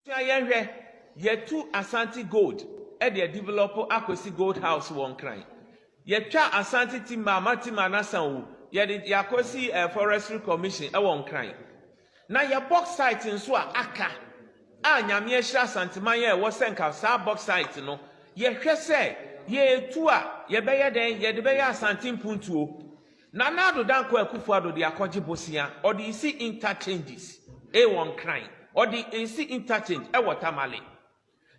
Tia yɛn hwɛ, yɛatu Asante Gold de adevelɔpo Akwasi Gold House wɔ Nkran. Yɛatwa Asante Timber ama Timber no asan wu, yɛde Akwasi Forestry Commission wɔ Nkran. Na yɛ Bauxite nso a aka a Nyame ahyira Asanteman a ɛwɔ sɛ nka saa Bauxite no yɛhwɛ sɛ yɛtu a yɛbɛyɛ dɛn yɛde bɛyɛ Asante Mpuntuo. Nana Addo Dankwa Akufo Addo de akɔgye bosea ɔde resi interchanges e wɔ Nkran, ɔde resi interchange ɛwɔ Tamale.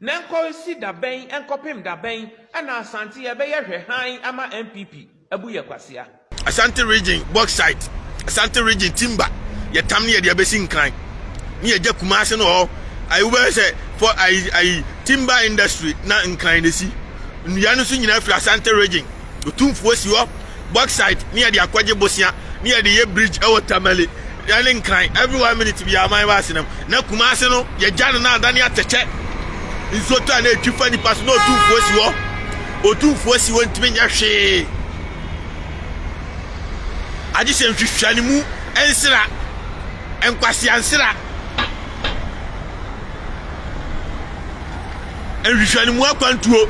Na ɛnkɔ si da bɛn, ɛnkɔpem da bɛn na Asante yɛbɛyɛ hwɛ hann ama NPP abu yɛ kwasea? Asante Region Bauxite, Asante Region Timber yɛ tam ne yɛde abɛsi Nkran ne yɛgya Kumase no hɔ ayi wobɛhwɛ sɛ fɔ ayi ayi timber industry na Nkran na esi. Nnua no nso nyinaa firi Asante Region. Otumfoɔ si hɔ, bauxite ne yɛde akɔgye bosea ne yɛde yɛ bridge ɛwɔ Tamale ɛne Nkran every one minute biara man ba asenam na Kumase no yɛgya no na adane atɛkyɛ nsuo tɔ a na ɛtwi fa nipa so na Otumfoɔ si hɔ Otumfoɔ si hɔ ntumi nyɛ hwee agye sɛ nhwehwɛ ne mu nsera nkwasea nsera nhwehwɛ ne mu akwantuo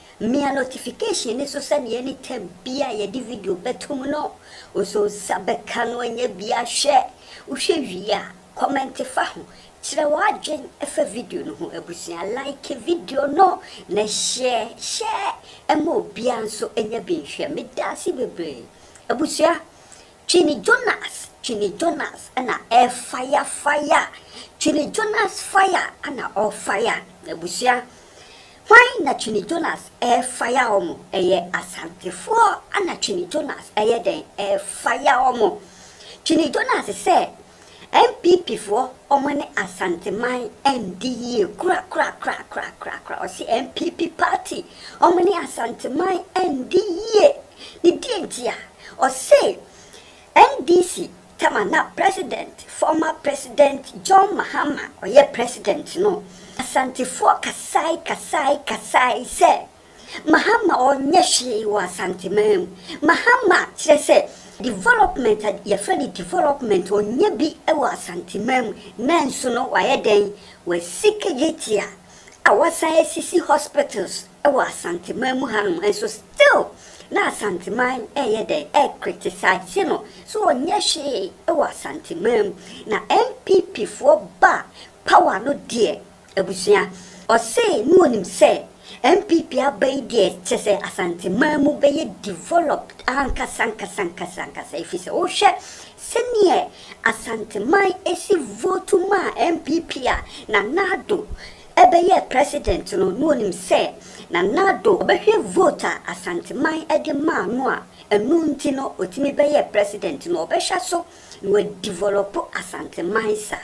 Mia notification no so sɛdeɛ any time biaa yɛde video bɛtom no wosɔ nsa bɛka no anyɛ biaa hwɛ wohwɛ wie a kɔmɛnte fa ho kyerɛ w'adwen fa video no ho abusua like video no na share share ma obiaa nso nya bi nhwɛ medaase bebree abusua Twini Jonas Twini Jonas na ɛɛ fire fire Twini Jonas fire na ɔɔ fire abusua Hwan na Twene Jonas ɛɛfaya ɔmo? Ɛyɛ Asantefoɔ na Twene Jonas ɛɛyɛ dɛn ɛɛfaya ɔmo? Twene Jonas sɛ NPP foɔ ɔmo ne Asanteman ɛndi yie korakorakorakorakorakoraa ɔse NPP party ɔmo ne Asanteman ɛndi yie ne deɛ nti a ɔse NDC tama na president former president John Mahama ɔyɛ president no Asantefoɔ kasae kasae kasae sɛ Mahama ɔnyɛ hwee wɔ Asanteman mu Mahama kyerɛ sɛ development a yɛfrɛ no development ɔnyɛ bi wɔ Asanteman mu nanso no wayɛ dɛn wasika gyetia a wasan asisi hospitals Wɔ Asanteman mu hanom nso still na Asanteman ɛyɛ dɛn ɛcriticise no so ɔnyɛ hwee wɔ Asanteman mu na NPP foɔ ba power no deɛ abusua ɔsee ne ɔnim sɛ NPP aba yi deɛ kyɛsɛ Asanteman mu bɛyɛ developed ankasa ankasa ankasa ankasa ɛfisɛ wohwɛ sɛdeɛ Asanteman ɛsi vote maa NPP a Nana Addo bɛyɛɛ president no na onim sɛ na Nado ɔbɛhwɛ vote a Asanteman de maa no a ɛno nti no otumi bɛyɛɛ president no ɔbɛhwɛ so na wadevelop Asanteman saa.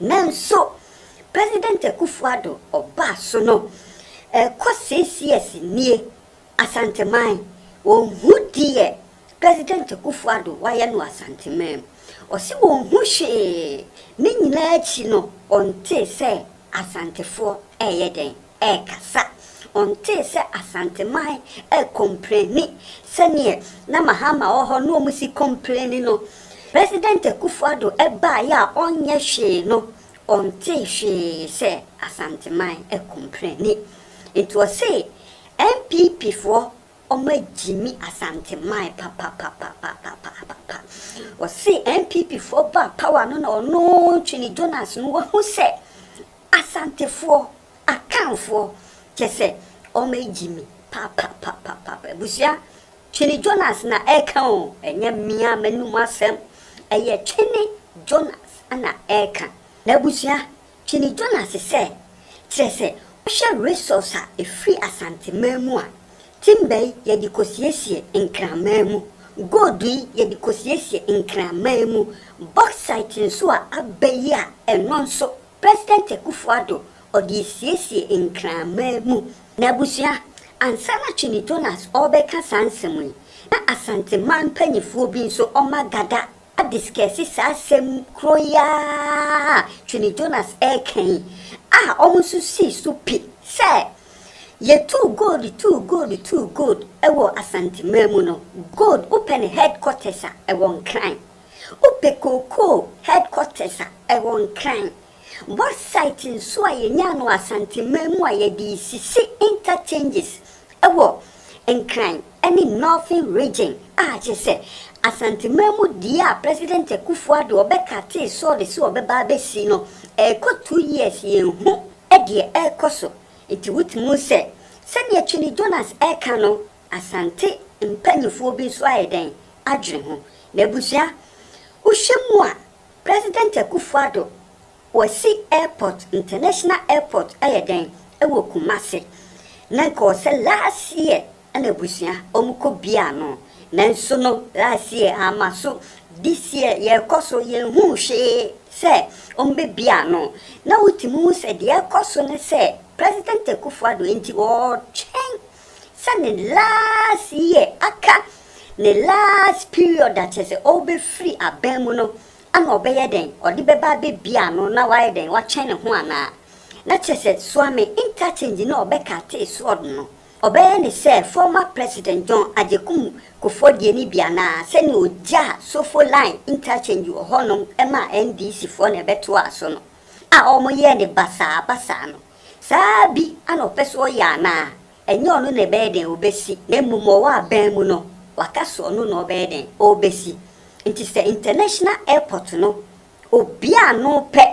Nanso President Akuffo Addo ɔbaa so no ɛkɔ six years nie Asanteman wɔnhu deɛ President Akufo Addo wayɛ no Asanteman. Ɔse ɔnhu hwee, ne nyinaa akyi no ɔntee sɛ Asantefoɔ ɛɛyɛ dɛn? Ɛɛkasa. Ɔntee sɛ Asanteman ɛɛkɔmplɛni sɛdeɛ na Mahama wɔ hɔ na ɔmo si kɔmplɛni no. President Akufo Addo ɛbaaeɛ a ɔnyɛ hwee no, ɔntee hwee sɛ Asanteman ɛɛkɔmplɛni. Nti ɔse NPP foɔ Ɔma Gyimi Asante mae papapapapapapapa. Ɔse NPP foɔ baa power no na ɔno Twene Jonas no wahu sɛ Asante foɔ, Akan foɔ kyɛsɛ ɔma Gyimi papapapapapa. Abusua Twene Jonas na ɛka o, ɛnyɛ me a m'anum asɛm, ɛyɛ Twene Jonas na ɛka. Abusua Kenny Jonas sɛ, Kyerɛ sɛ wohwɛ resource a ɛfiri Asanteman mu a, timber yi yɛde kɔsiesie Nkraman mu, gold yi yɛde kɔsiesie Nkraman mu, bauxite nso a aba yi a ɛno nso President Akuffo Addo ɔde ɛsiesie Nkraman mu. Na abusua, ansa na Kenny Jonas ɔrebɛka saa nsɛm yi, na Asanteman mpaninfoɔ bi nso wɔagada Hades kɛse saa asɛm koro yi ara te ne Jonas reka yi a wɔn nso sii so pi sɛ, Yɛtuu gold tuu gold tuu gold wɔ Asanteman mu no, gold wopɛ ne headquarters a ɛwɔ Nkran? Wopɛ kookoo headquarters a ɛwɔ Nkran? Website nso a yɛnyaa no Asanteman mu a yɛde resisi interchanges wɔ Nkran ne Northern Region a kyerɛ sɛ Asanteman mu deɛ a President Akuffo Addo ɔbɛkatee sɔɔde sɛ ɔbɛba abɛsi no ɛrekɔ two years yɛnhu deɛ ɛrekɔ so nti wotumi hu sɛ sɛdeɛ Twene Jonas reka no Asante mpaninfoɔ bi nso ayɛ dɛn adwene ho na abusua wohwɛ mu a President Akufo Addo, Kwasi Airport, International Airport ayɛ dɛn wɔ Kumasi? Na nka ɔwɔ sɛ last year na abusua wɔn kɔ biaa no, nanso no last year amma so, this year yɛkɔ so yɛnhuu hwee sɛ wɔn bɛ biaa no. Na wotumi hu sɛ deɛ ɛkɔ so ne sɛ President Akufo Addo nti ɔretwɛn sɛ ne last year aka, ne last period a kyerɛ sɛ ɔrebɛfiri aban mu no, ana ɔbɛyɛ dɛn? Ɔde bɛba abɛbie ano na wayɛ dɛn? Watwɛn ne ho anaa? Na kyerɛ sɛ Suame Nkakyingyi no a ɔbɛkatee sword no, ɔbɛyɛ ne sɛ former President John Agyekum Kufuor deɛ no bi anaa? Sɛdeɛ ɔgyaa Sofo Line Interchange wɔ hɔnom maa NDC foɔ na ɛbɛtoaa so no, a wɔyɛɛ no basaa basaa no. Saa ara bi a na ɔpɛ sɛ ɔyɛ anaa? Ɛnyɛ ɔno na ɛbɛyɛ dɛn ɔbɛsi, na mmom ɔwɔ abɛn mu no, waka sɛ ɔno na ɔbɛyɛ dɛn ɔbɛsi. Nti sɛ international airport no obi a ano pɛ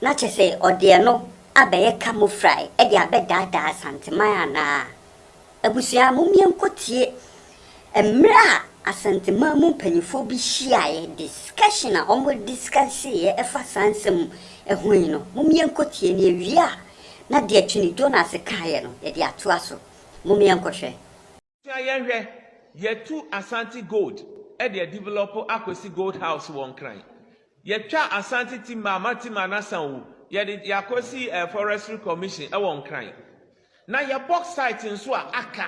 na kyɛ sɛ ɔde ɛno abɛyɛ camouflage de abɛdaadaa Asanteman anaa? Abusua, mom yɛnkɔtie mmerɛ a Asanteman mu mpaninfoɔ bi hyiaeɛ, discussion a wɔn discusseeɛ ɛfa saa nsɛm ho yi no, mom yɛnkɔtie na yɛwie a na deɛ Twene Jonas kaeɛ no yɛde atoa so. Mom yɛnkɔhwɛ. Abusua yɛnhwɛ, Yɛtu Asante Gold de adevelɔpo Akwasi Gold House wɔ Nkran. Yɛtwa Asante Timber ama Timber no asan o, yɛde Akwasi Forestry Commission wɔ Nkran. Na yɛ bɔksait nso a aka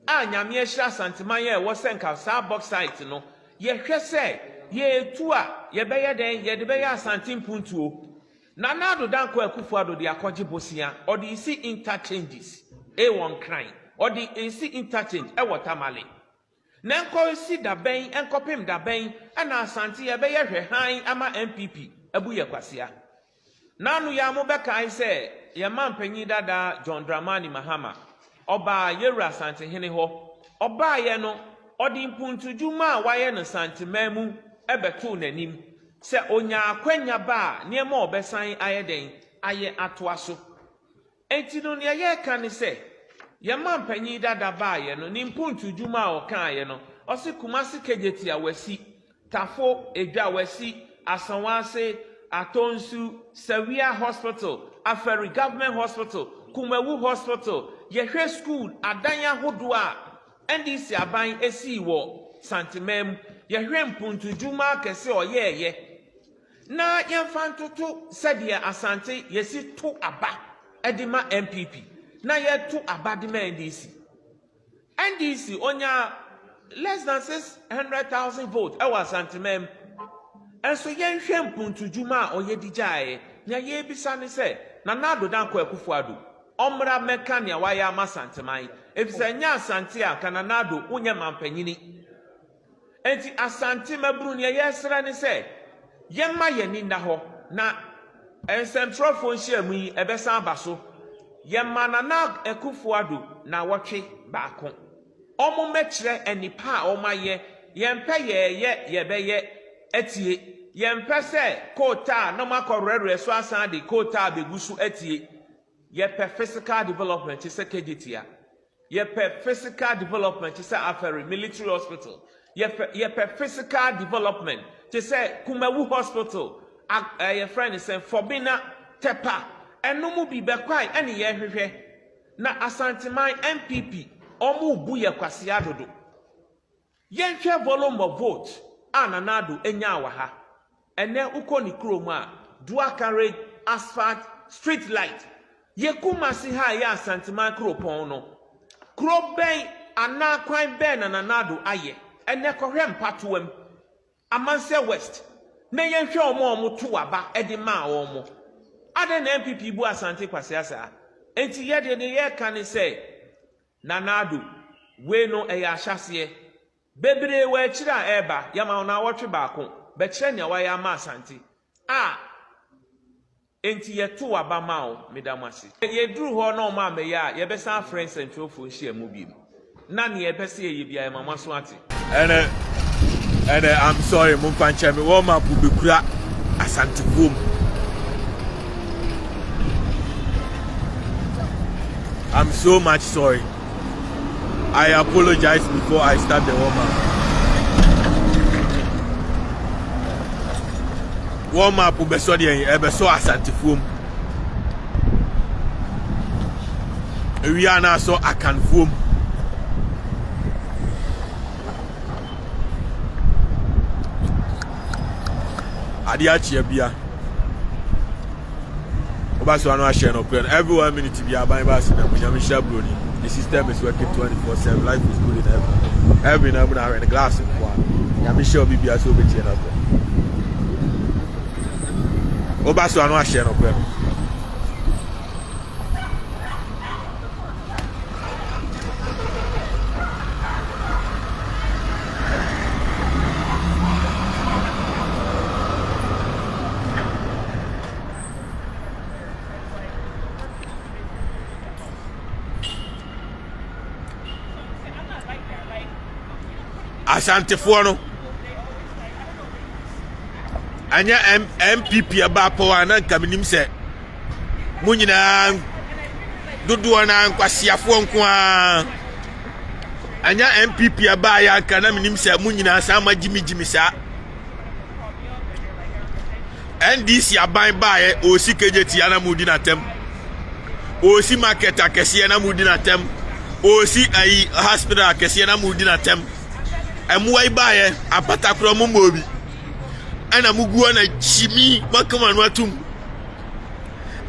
a Nyame ahyira Asanteman a ɛwɔ sɛ nka saa bɔksait no yɛhwɛ sɛ yɛtu a yɛbɛyɛ dɛn yɛde bɛyɛ Asante mpuntuo. Nana Addo Dankwa Akufo Addo de akɔgye bosea ɔde resi interchanges wɔ Nkran, ɔde resi interchange wɔ Tamale. Na ɛnkɔsi da bɛn, ɛnkɔpem da bɛn na Asante yɛbɛyɛ hwɛ hann ama NPP abu yɛ kwasea? N'ano yi ara mobɛkae sɛ yɛn manpanyin dada John Dramani Mahama, ɔbaa Yewura Asantehene hɔ, ɔbaeɛ no ɔde mpuntudwuma a wayɛ no Santeman mu bɛtoo n'anim, sɛ ɔnya akwanya ba a nneɛma ɔbɛsan ayɛ dɛn ayɛ atoa so. Enti no nea yɛreka ne sɛ, yɛn manpanyin dada baeɛ no, ne mpuntu dwuma a ɔkaaeɛ no, ɔse Kumasi Kejetia wasi, Tafo, Edwa wasi, Asawase, Atonsu, Sawia Hospital, Afari Government Hospital, Kumawu Hospital, yɛhwɛ school adan ahodoɔ a NDC aban sii wɔ Santeman mu, yɛhwɛ mpuntu dwuma akɛse a ɔyɛɛeɛ, Na yɛmfa ntoto sɛdeɛ Asante yɛsi to aba de ma NPP na yɛto aba de ma NDC. NDC ɔnyaa less than six hundred thousand vote ɛwɔ Asanteman mu. Nso yɛnhwɛ mpuntudwuma a ɔyɛ de gyaeɛ. Nea yɛrebisa ne sɛ Nana Addo Dankwa Akufo Addo ɔmmra mmɛka nea wayɛ ama Asanteman. Efisɛ ɛnyɛ Asante a anka Nana Addo wonyɛ mampanyini. Enti Asante mmabunu nea yɛsrɛ ne sɛ yɛmma yɛn ani nna hɔ na nsɛntwerɛfoɔ nhyiamu yi ɛbɛsan aba so. Yɛma Nana Akuffo Addo nawɔtwe baako. Wɔn mmɛkyerɛ nnepa a wɔn ayɛ. Yɛn pɛ yɛɛyɛ yɛbɛyɛ atie. Yɛn pɛ sɛ coal tar na wɔn akɔ werɛwerɛ so asan de coal tar bɛgu so atie. Yɛpɛ physical development te sɛ Kejetia. Yɛpɛ physical development te sɛ Aferi Military Hospital. Yɛpɛ yɛpɛ physical development te sɛ Kumawu Hospital, a ɛɛ yɛfrɛ no sɛ Fobina Tepa. Ɛno mu bi bɛkwae ɛne yɛrehwehwɛ. Na Asanteman NPP wɔn rebu yɛ kwasea dodo. Yɛnhwɛ Volombo Vote a Nana Addo nyaa wɔ ha. Ɛnnɛ wokɔ ne kurom a, Duaka Red Asphalt Street Light yɛ Kumasi ha a ɛyɛ Asanteman kuropɔn no. Kuro bɛn anaa kwan bɛn na Nana Addo ayɛ? Ɛnnɛ kɔhwɛ Mpatoam, Amansɛ West na yɛnhwɛ wɔn a wɔtoo aba de maa wɔn. Adɛn na NPP bu Asante kwasea saa? Enti yɛn deɛ deɛ yɛreka ne sɛ, Nana Addo, Wei no ɛyɛ ahyɛaseɛ. Bebree wɔ akyire a ɛreba, yɛama wo naawɔtwe baako, bɛkyerɛ nea wayɛ ama Asante a enti yɛtoo aba maa wo. Meda mo ase. Sɛ yɛduru hɔ na wɔammɛyɛ a, yɛbɛsan afrɛ nsɛntwerɛfoɔ nhyiamu bio na nea yɛpɛ sɛ yɛyɛ biara yɛma moaso ate. Ɛnɛ ɛnɛ I'm sorry mo mfa nkyɛn me wɔn ma po bekura asantefoɔ mu. I'm so much sorry. I apologize before I start the warm up. Warm up bɛsɔ deɛ ɛbɛsɔ asantefoɔ mu. Ewia no asɔ akanfoɔ mu. Adeɛ akyea bia. Wobɛsɔ ano ahyɛ no korɛ no. Every one minute bia aban ba ase na mu nyame hyɛ buroni. The system is working 24/7. Life is good in heaven. Heaven na mu na ahwɛ no glass nkoa. Nyame hyɛ obi bia sɛ obɛtie no akorɛ. Woba so ano ahyɛ nokorɛ no. asantefoɔ no anyɛ npp ɛbaa pɔw a na nka menim sɛ mo nyinaa dodoɔ no ara nkwaseafoɔ nko ara anyɛ npp ɛbaa yɛ anka na menim sɛ mo nyinaa saa ma gyimigyimi saa ndc aban baeɛ ɔsi kagye tia na modi n'atɛm ɔsi market akɛseɛ na modi n'atɛm ɔsi ayi hospital akɛseɛ na modi n'atɛm mmoa yi baeɛ apatakorɔ mo mmɔɔ bi ɛna mo guo na gyimi mo akama no atum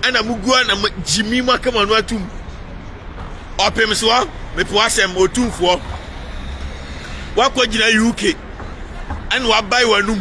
ɛna mo guo na gyimi mo akama no atum ɔpem soɔ mepo asɛm otumfoɔ wakɔ gyina uk ɛna wabae w'anum.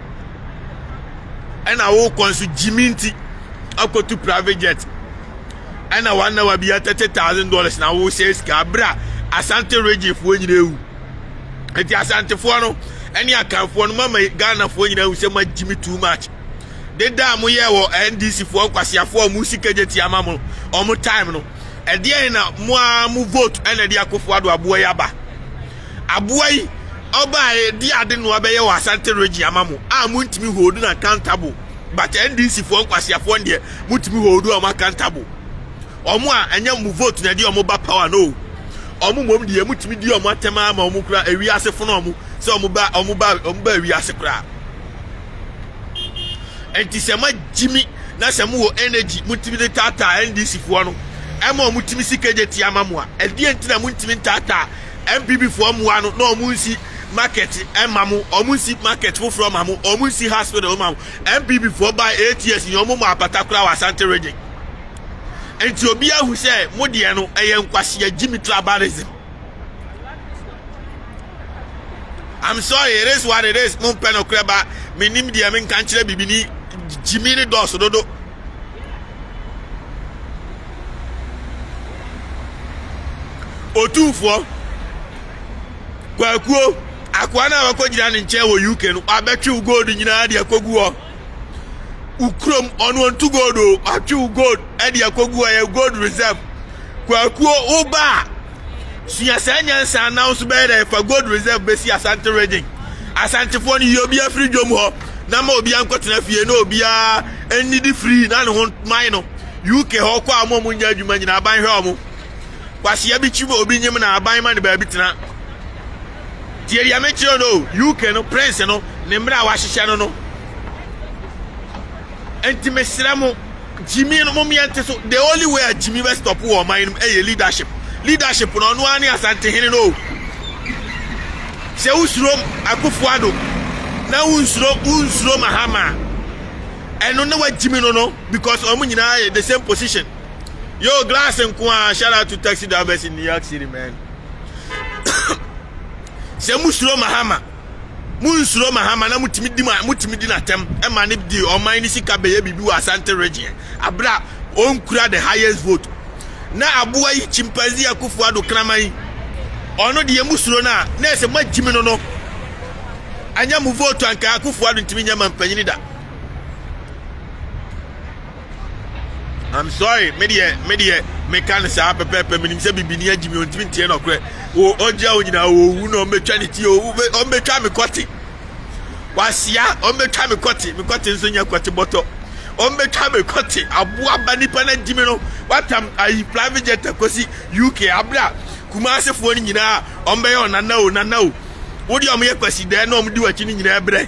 ɛna wokɔ nso gyimi nti akɔtu private jet ɛna wanawa bi a thirty thousand dollars na wosɛ sika abere a asante regyefoɔ nyina awu nti asantefoɔ no ɛne akanfoɔ no mama ghanafoɔ nyina awu sɛ ma gyimi too much deda a moyɛ wɔ ndc foɔ nkwaseafoɔ a ɔmo sika gye tia ma mo ɔmo time no ɛdeɛn na mo a mo vote ɛna ɛde akofo ado aboa yi aba Aboa yi ɔbaaɛ de ade noa bɛyɛ wɔ Asante region ama mo a montumi hold no accountable but NDC foɔ nkwaseafoɔ deɛ motumi hold wɔn accountable wɔn a ɛnyɛ mo vote na ɛde wɔn ba power no wɔn mmom deɛ motumi di wɔn atɛm ara ma wɔn kura ewiase fono wɔn sɛ wɔn ba wɔn ba wɔn ba ewiase koraa nti sɛ ma gyimi na sɛ mo wɔ energy motumi de taataa NDC foɔ no ɛma wɔn tumi si kejeti ama mo a ɛdeɛ nti na motumi ntaataa MPP foɔ mmoa no na ɔmo nsi market mma mo, ɔmo nsi market foforɔ mma mo, ɔmo nsi hospital mma mo. MPP foɔ baa eight years nyinaa ɔmo mmɔɔ apata koraa wɔ Asante region. Nti obiara ahu sɛ mo deɛ no ɛyɛ nkwasea Jimmy tribalism. I'm sorry it is what it is mo mpɛ nokorɛ ba menim deɛ menka nkyerɛ bibini Jimmy no dɔɔso dodo. Otumfoɔ, Kwakuo, akoa no a wakɔgyina ne nkyɛn wɔ UK no, wabɛtwe wo gold nyinaa de akɔgu hɔ. Wo kurom, ɔno ɔntu gold o, watwe wo gold de akɔgu hɔ, ɛyɛ gold reserve. Kwakuo, wo ba a, Sua saa nyansa na nso bɛyɛ dɛ fa gold reserve bɛsi asante region asantefoɔ no yi obi afiri dwom hɔ na ma obi ankɔtena fie na obiara nnidi firi na ne ho man no uk hɔ kɔ a mo ɔmo nyɛ adwuma nyina aban hwɛ ɔmo kwasia bi kyi obi nyim na aban ma ne baabi tena tie deɛ mekyerɛ no uk no prince no ne mmerɛ a wahyehyɛ no no nti mesrɛ mo Gyimi no mom yɛnte so. The only way a Gyimi bɛ stop wɔ ɔman no mu ɛyɛ leadership. Leadership no ɔno ara ne Asantehene no o. Sɛ wosuro Akufo Addo na wonsuro wonsuro Mahama a ɛno ne wagyimi no no because wɔn nyinaa yɛ the same position. Yo glass nko a shout out to taxi drivers in New York City man. Sɛ musuro Mahama Munnsuro Mahama na motumi di ma motumi di n'atɛm ma ne de ɔman ne sika bɛyɛ biribi wɔ Asante region abere a ɔnkura the highest vote na aboa yi chimpanzee akufo ado kraman yi ɔno deɛ mu suro no a na ɛsɛ moagyimi no no anyɛ mo vote anka akufo ado ntumi nyɛ ma mpanyini da i'm sorry me deɛ me deɛ meka no saa pɛpɛɛpɛ menim sɛ bibini agyi me ɔntumi nteɛ nɔkorɛ ɔgyina wo nyinaa ɔwu na ɔmbɛtwa ne ti ɔmbɛtwa me kɔte wasia ɔmbɛtwa me kɔte me kɔte nso nyɛ kɔte bɔtɔ ɔmbɛtwa me kɔte aboa ba nipa no agyi me no watam ayi private jet akɔsi uk aberɛ a kumaasefoɔ no nyinaa ɔmbɛyɛ ɔnana o nana o wodeɛ ɔmyɛ kwasidɛɛ na ɔmdi wakyi no nyinaa brɛ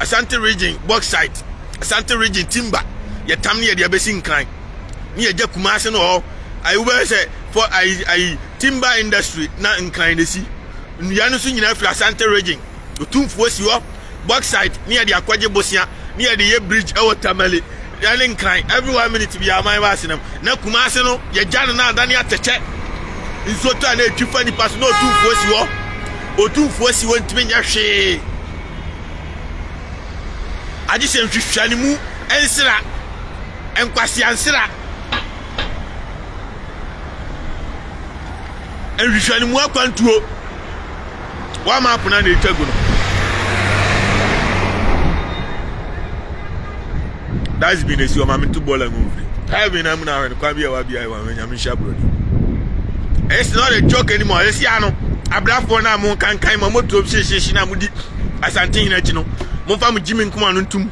Asante region bauxite, Asante region timber, yɛtam ne yɛde abɛsi nkran ne yɛgya Kumase no hɔ ayi wobɛyɛ sɛ fɔ ayi ayi timber industry na nkran na esi nnua no nso nyinaa firi Asante region otumfuo si hɔ bauxite ne yɛde akɔgye bosea ne yɛde yɛ bridge ɛwɔ Tamale ɛne nkran every one minute bi aman ba asenam na Kumase no yɛgya no na adane atɛkyɛ nsuo tɔ a na etwi fa nipa so na otumfuo si hɔ otumfuo si hɔ ntumi nyɛ hwee Agye sɛ nhwehwɛanimu nsera, nkwasea nsera, nhwehwɛanimu akwantuo, wɔama apena na ɛtwa gu no. That's been a si ɔma me nto bɔɔla ngu mfiri. Heaven amuna ahwɛ no kwan bi a ɛwɔ abiaewa. maame nyame nhyira buroni ɛyɛ sɛ ɔde joke anim a ɛsi ano abrafoɔ no a mo nkankan ma motuo hyehyehye no a modi asante hene akyi no momfa mo gyimi nkoma no ntom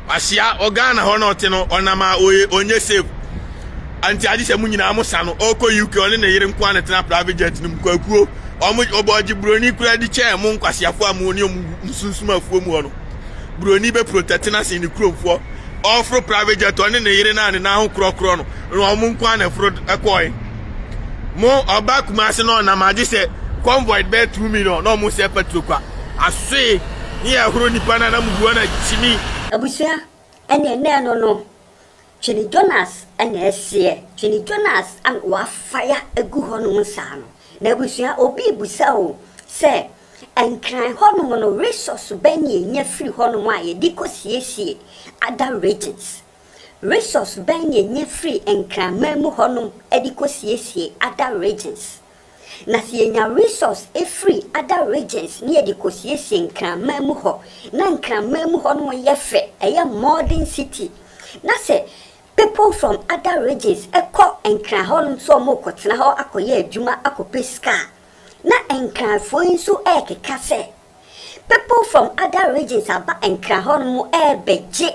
ahyia ɔghana hɔ na ɔte no ɔnam a ɔyɛ ɔnyɛ safe anti agye sɛ mo nyinaa mo sa no ɔkɔ uk ɔne ne yere nkoa ne tena private jet no mu kwakuo ɔmo ɔbɔ ɔgye buroni kura di kyɛɛ mo nkwaseafoɔ a mo ne ɔmo sunsum afuo mu hɔ no Buroni bɛ protect no asen ne kurom foɔ ɔforo private jet ɔne ne yere na ne nan ho korɔkorɔ no na ɔmo nko a na ɛforo ɛkɔɛ mo ɔba kumase na ɔnam agye sɛ convoy bɛyɛ two million na ɔmo sɛ petro kwa asoe ne yɛ ɛhoro nipa na na mo buo na kyimi. Abusua ɛneɛ nɛɛ no no Twene Jonas na ɛseɛ. Twene Jonas a wafaya gu hɔ nom saa no. M'abusua obi rebusa o sɛ Nkran hɔ nom no resource bɛn na yɛnya firi hɔ nom a yɛde kɔ siesie other regions? Resource bɛn na yɛnya firi Nkranman mu hɔ nom de kɔ siesie other regions? Na sɛ yenya resource firi other regions ne yɛde kɔsiesie Nkraman mu hɔ na Nkraman mu hɔ nom yɛ fɛ, ɛyɛ modern city, na sɛ people from other regions kɔ Nkran hɔ nom sɛ wɔn kɔtena hɔ akɔyɛ adwuma akɔpɛ sika a, na Nkranfoɔ yi nso ɛɛkeka sɛ people from other regions aba Nkran hɔ nom ɛɛbɛgye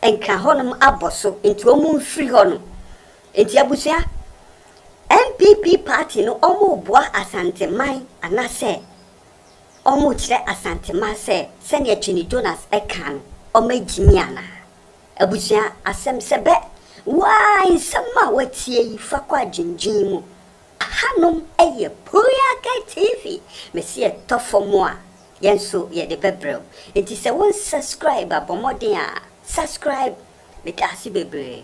Nkran hɔ nom abɔ so nti wɔn mfiri hɔ nom. Enti abusua, NPP party no wɔreboa Asanteman anasɛ wɔrekyerɛ Asanteman sɛ sɛnea Twene Jonas ɛkaa no wɔagyimi anaa? Abusua, asɛm sɛ bɛ, woaa nsɛm a woatie yi fa kɔ adwendwen mu. Ahanom yɛ Puriake TV, mese yɛtɔ fam a yɛn nso yɛde bɛbrɛ wo. Enti sɛ wonsubscribe a bɔ mmɔden a subscribe, medaase bebree.